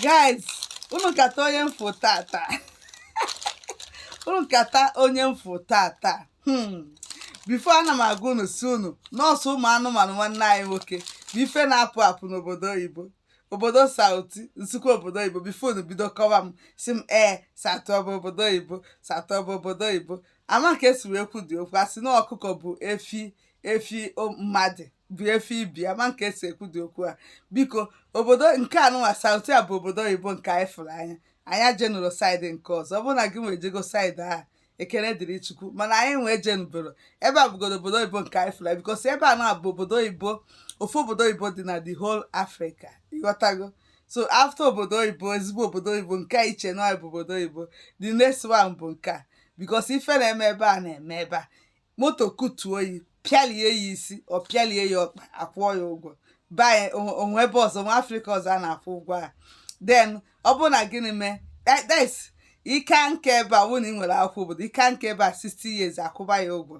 guys unu kata onye m fụ tata unu kata onye m fụ tata hmm. before ana m agwa unu si unu nọọsụ ụmụ anụmanụ nwanne anyị nwoke bụ ife na-apụ apụ n'obodo oyibo obodo south m sikwu obodo oyibo before unu bido kọwa m si m ee south ọ bụ obodo oyibo south ọ bụ obodo oyibo ama ka esi wee kwudi okwu a sị na ọkụkọ bụ efi efi mmadụ bụ efe ibi ama nke esi ekwudi okwu a biko obodo nke anụnwa south a bụ obodo oyibo nke anyị fụrụ anya anyị ejenurọ side nke ọzọ ọ bụrụ na gị nwa ejego side ahụ ekele dịrị chukwu mana anyị nwa ejenubero ebe a bụgodo obodo oyibo nke anyị fụrụ because ebe a na-abụ obodo oyibo ofu obodo oyibo dị na the whole africa ịghọtago so after obodo oyibo ezigbo obodo oyibo nke a iche na bụ obodo oyibo the next one bụ nke a because ife na-eme ebe a na-eme ebe a moto kụtuo ya pịalie ya isi ọ pịalie ya ọkpa akwụọ ya ụgwọ be anyị o nwe ebe ọzọ na africa ọzọ a na-akwụ ụgwọ a then ọ bụrụ na gịnị mee this ị ka nka ebe a wụ na ị nwere akwụkwọ obodo ị ka nka ebe a 60 years akwụba ya ụgwọ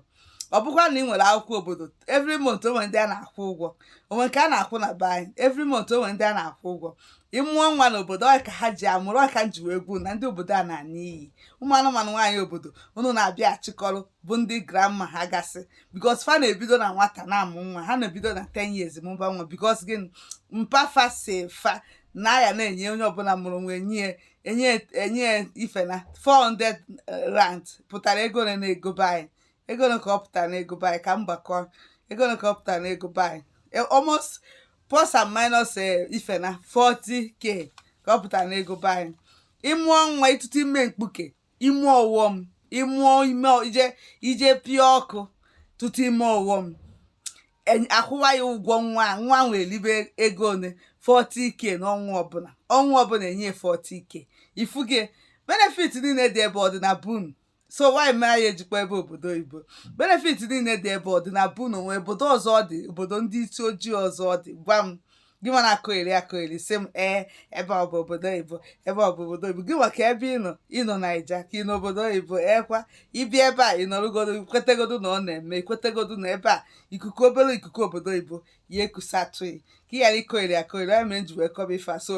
ọ bụkwa na ị nwere akwụkwọ obodo every month o nwe ndị a na-akwụ ụgwọ o nwe nke a na-akwụ na be anyị every month o nwe ndị a na-akwụ ụgwọ ị mụọ nwa n'obodo ọ ka ha ji amụrụ ọ ka m ji wee kwuo na ndị obodo a na-ana n'iyi ụmụ anụmanụ nwaanyị obodo unu na-abịa achịkọrọ bụ ndị grandma ha gasị because fa na-ebido na nwata na-amụ nwa ha na-ebido na 10 years mụba nwa because gịnị mpa fa si fa na ya na-enye onye ọbụla mụrụ nwa enye enye enye ife na 400 rand pụtara ego ole na ego be anyị ego ole ka ọ pụtara na ego be anyị ka m gbakọ ego ole ka ọ pụtara na ego be anyị e, almost plus and minus e, ife na 40k ka ọ pụtara na ego be anyị ị mụọ nwa ịtụtụ ime mkpuke ime ọghọm ịmụọ ime ije ije pịa ọkụ tụtụ ime ọghọm akwụwa ya ụgwọ nwa nwa nwee elibe ego one 40k n'ọnwa ọbụla ọnwa ọbụla enye 40k ifuge benefit niile dị ebe ọ dị na be unu so why mere ya eji kpọ ebe obodo oyibo benefit niile dị ebe ọ dị na be unu o nwe obodo ọzọ ọ dị obodo ndị isi ojii ọzọ ọ dị gwa m gị nwa na-akọgheri akọgheri si m ee ebe ọ bụ obodo oyibo ebe ọ bụ obodo oyibo gị nwa kee ebe ị nọ ị nọ naija ka ị nọ obodo oyibo ekwa ibi ebe a ịnọrụgodo ikwetegodo na ọ na-eme ikwetegodo na ebe a ikuku obere ikuku obodo oyibo ya ekusatụ gị ka ị ghara ịkọgheri akọgheri ọ ya mere m ji wee kọba ife a so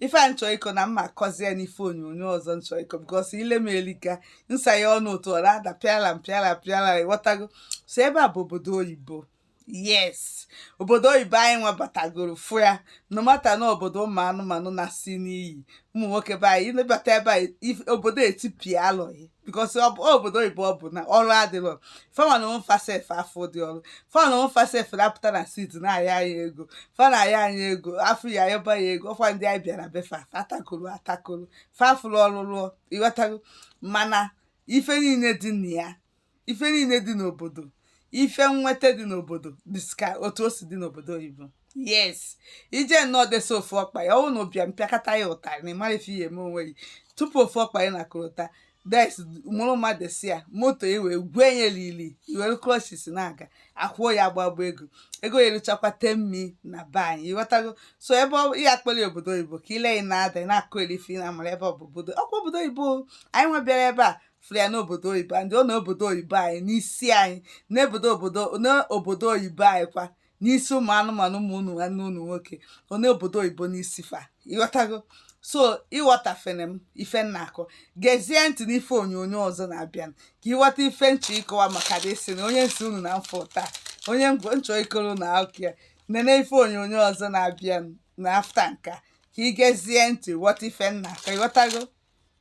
ife a m chọ ịkọ na m ma akọzie n'ife onyonyo ọzọ m chọ ịkọ because ile m elika nsa ya ọnụ otu ọ na-ada pịala m pịala pịala ịghọtago so ebe a bụ obodo oyibo yes obodo oyibo anyị nwa batagoro fụ ya no mata na obodo ụmụ anụmanụ na-asị n'iyi ụmụ nwoke be anyị ịnabata ebe anyị if- obodo etipịa alụghị because obodo oyibo ọ bụ na ọrụ adịrọ fa nwa na onwe fa sef afọ dị ọrụ fa nwa na onwe fa sef na-apụta na street na-ayọ anyị ego fa na-ayọ anyị ego a fụ ya a yọba ya ego ọkwa ndị anyị bịara be fa atakoro atakoro fa fụrụ ọrụ rụọ ị ghọtago mana ife niile dị na ya ife niile dị n'obodo ife nweta dị n'obodo dịka otu o si dị n'obodo oyibo yes i je nọọ dọsa ofu ọkpa ya ọ wụ na ị bịa m pịakọta ya ụtarị na ị mara ife ihe eme onwe gị tụpụ ofu ọkpa ya na korota des mụrụ mmadụ si ya moto ya wee gwee ya lili i were crutches na-aga a kwụọ ya agbagba ego ego ya eruchakwa ten m na be anyị ị ghọtago so ebe ọ- ya a kpọrọ ya obodo oyibo ka ile ị na-ada ị na-akụ elife ị na-amara ebe ọ bụ obodo ọkwa obodo oyibo anyị nwa bịara ebe a fụrụ ya n'obodo oyibo anyị ọ n'obodo oyibo anyị n'isi anyị n'obodo obodo n'obodo oyibo anyị kwa n'isi ụmụ anụmanụ ụmụ unu nwanne unu nwoke ọ n'obodo oyibo n'isi fa ị ghọtago so ịghọtafere m ife m na-akọ gezie ntị n'ife onyonyo ọzọ na-abịa ka ị ghọta ife m chọ ịkọwa maka this thing na onye m sị unu na m fụ taa onye m chọ ịkọrọ unu akụkọ ya nene ife onyonyo ọzọ na-abịa na after nkaa ka ị gezie ntị ghọta ife m na-akọ ị ghọtago